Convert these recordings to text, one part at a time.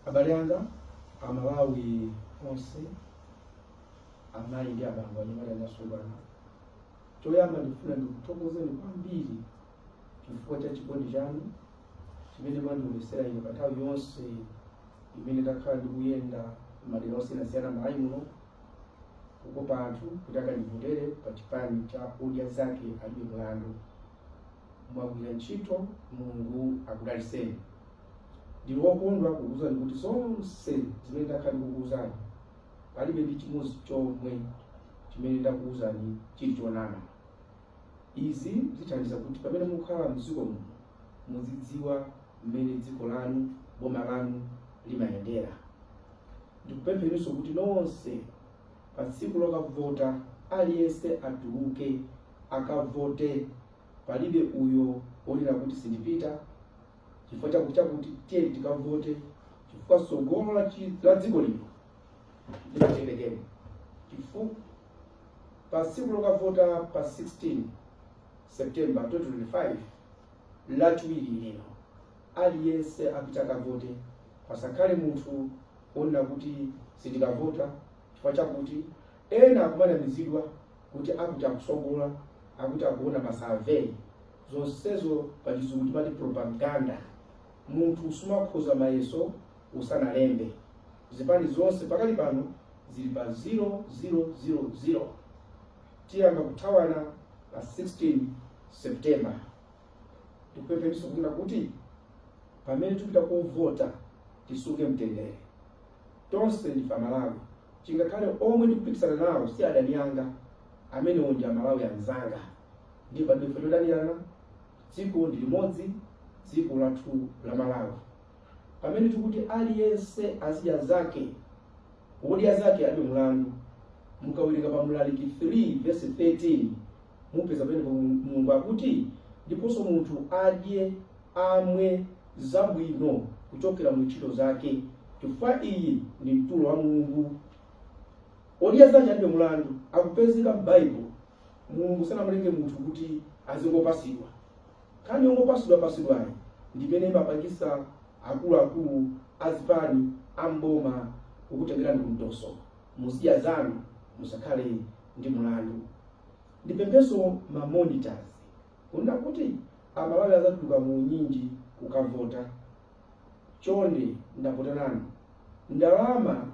Abale anga amalawi onse amayi ndi abambo anyamata ndi asungwana choyamba ndifuna ndikuthokozeni kwambiri chifukwa cha chikondi chanu chimene mwandionetsera ine pa nthawi yonse imene ndakhala ndikuyenda madera osiyanasiyana m'malawi muno kukopa anthu kuti akandivotere pa chipani cha odya zake alibe mlandu mwagwira ntchito mulungu akudaliseni ndili wokondwa kukuuzani kuti zonse zimene ndakhala ndikukuuzani palibe ndi chimodzi chomwe chimene ndakuuzani chili chonama izi zithandiza kuti pamene mukhala mdziko muno muzidziwa mmene dziko lanu boma lanu limayendera ndikupempheniso kuti nonse Pa tsiku lokavota aliyense atuluke akavote palibe uyo onena kuti sindipita chifukwa chakuti chakuti tiye tikavote chifukwa tsogolo la chi- la dziko lino limatengera chifukwa pa tsiku lokavota pa 16 september 2025 lachiwiri lino aliyense apite akavote pasakhale munthu onena kuti sindikavota chifukwa chakuti ena akumanamizidwa kuti akuti akusogola akuti akuona masurvey zonsezo pachizungu timati propaganda munthu sumakhoza mayeso usanalembe zipani zonse pakali pano zili pa 0000 tiyamba kuthawana pa 16 september ndikupempheninso kunena kuti Pamene tipita kukavota tisunge mtendere. Tonse ndife Amalawi. Chingakhale omwe ndikupikisana nawo si adani anga, amenewo ndi Amalawi anzanga. Ndiye palibe chifukwa chodanirana. Dziko ndi limodzi, dziko lathu la Malawi. Pamene tikuti aliyense azidya zake, odya zake alibe mlandu. Mukawerenga pa Mlaliki 3 vesi 13, Mupeza pamene Mulungu akuti, Ndiponso munthu adye, amwe, zabwino kuchokera mu ntchito zake, chifukwa iyi ndi mtulo wa Mulungu. Odya zake alibe mulandu, akupezeka m'Baibulo. Mulungu sanamulenge munthu kuti azingopasidwa. Nkhani yongopasidwa-pasidwayi ndi imene imapangisa akulu-akulu a zipani, a m'boma kukutengerani ku mtoso. Muzidya zanu, musakhale ndi mulandu. Ndipempheso ma monitors kunena kuti amalawi azatuluka mu unyinji kukavota. Chonde ndapota nanu. Ndalama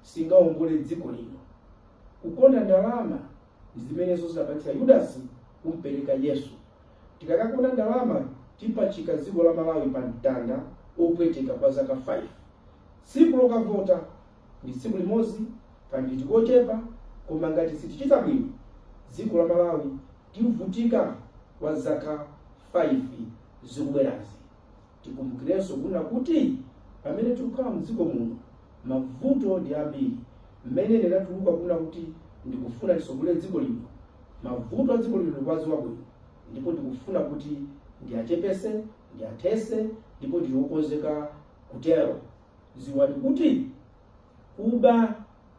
singaongole dziko lino. Kukonda ndalama ndi zimenenso zidapangitsa Yudasi kumpereka Yesu. Tikakakonda ndalama tipachika dziko la Malawi pa mtanda opweteka kwa zaka 5. Tsiku lokavota. Ndi tsiku limodzi kaminiti kochepa koma ngati sitichita bwino dziko la Malawi tivutika kwa zaka 5 zikubwerazi. Tikumbukirenso kunena kuti pamene tikukhala mdziko muno mavuto ndi ambiri. Mmene ndinatuluka kunena kuti ndikufuna nditsogolere dziko lino, mavuto a dziko lino ndikuwadziwa bwino ndipo ndikufuna kuti ndiachepese, ndiathese ndipo ndili wokonzeka kutero. ziwani kuti kuba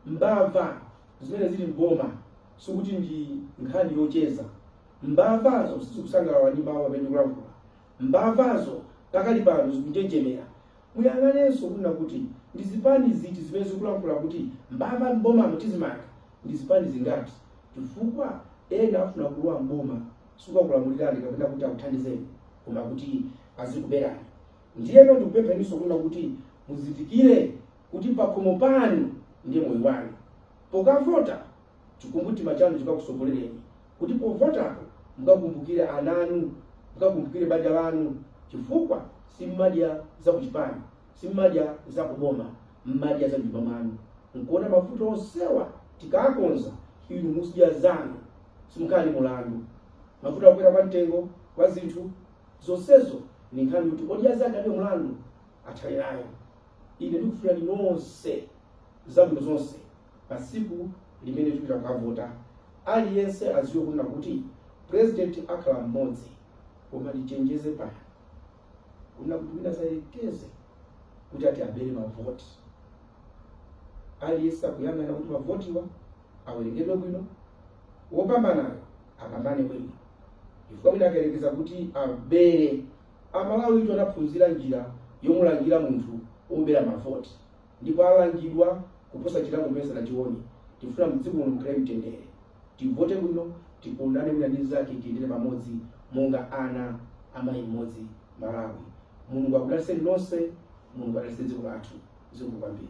mbava zimene zili m'boma sikuti ndi nkhani yocheza mbavazo sizikusangalala ndi mawu amene ndikulankhula mbavazo pakali pano zikunjenjemera muyang'anenso kunena kuti ndi zipani ziti zimene zikulankhula kuti mbava mbomamu tizimanga ndi zipani zingati chifukwa ena afuna kulowa mboma sikukakulamulirani kapena kuti akuthandizeni koma kuti azikuberani Ndiyeno ndikupempheninso kunena kuti muzindikire kuti pakhomo panu ndiye moyo wanu. Pokavota, chikumbumtima chanu chikakutsogolereni kuti povotapo mukakumbukire ana anu, mukakumbukire banja lanu chifukwa simumadya za kuchipani, simumadya za kuboma, m'madya za m'nyumba mwanu. Nkuona mavuto onsewa tikaakonza, inu muzidya zanu, simukhala ndi mulandu. Mavuto a kukwera kwa mtengo kwa zinthu, Zonsezo ndi nkhani yoti Odya Zake Alibe Mulandu athane nayo. Ine ndikufunirani nonse zabwino zonse pa tsiku limene tipita kukavota. Aliyense adziwe kunena kuti president akhala mmodzi koma tichenjeze pano kunena kuti wina asayerekeze kuti ati abere mavoti. Aliyense akuyang'ana kuti mavotiwa awerengedwe bwino, wopambanayo apambane bwino chifukwa wina akayerekeza kuti abere. Amalawitu anaphunzira njira yomulangira munthu wobera mavoti ndipo alangidwa kuposa chilango chimene sanachione. Tifuna mdziko muno mukhale mtendere, tivote bwino, tikondane wina ndi mnzake, tiyendere pamodzi monga ana a mayi mmodzi Malawi. Mulungu akudaliseni nonse, Mulungu adalitse dziko lathu. Zikomo kwambiri.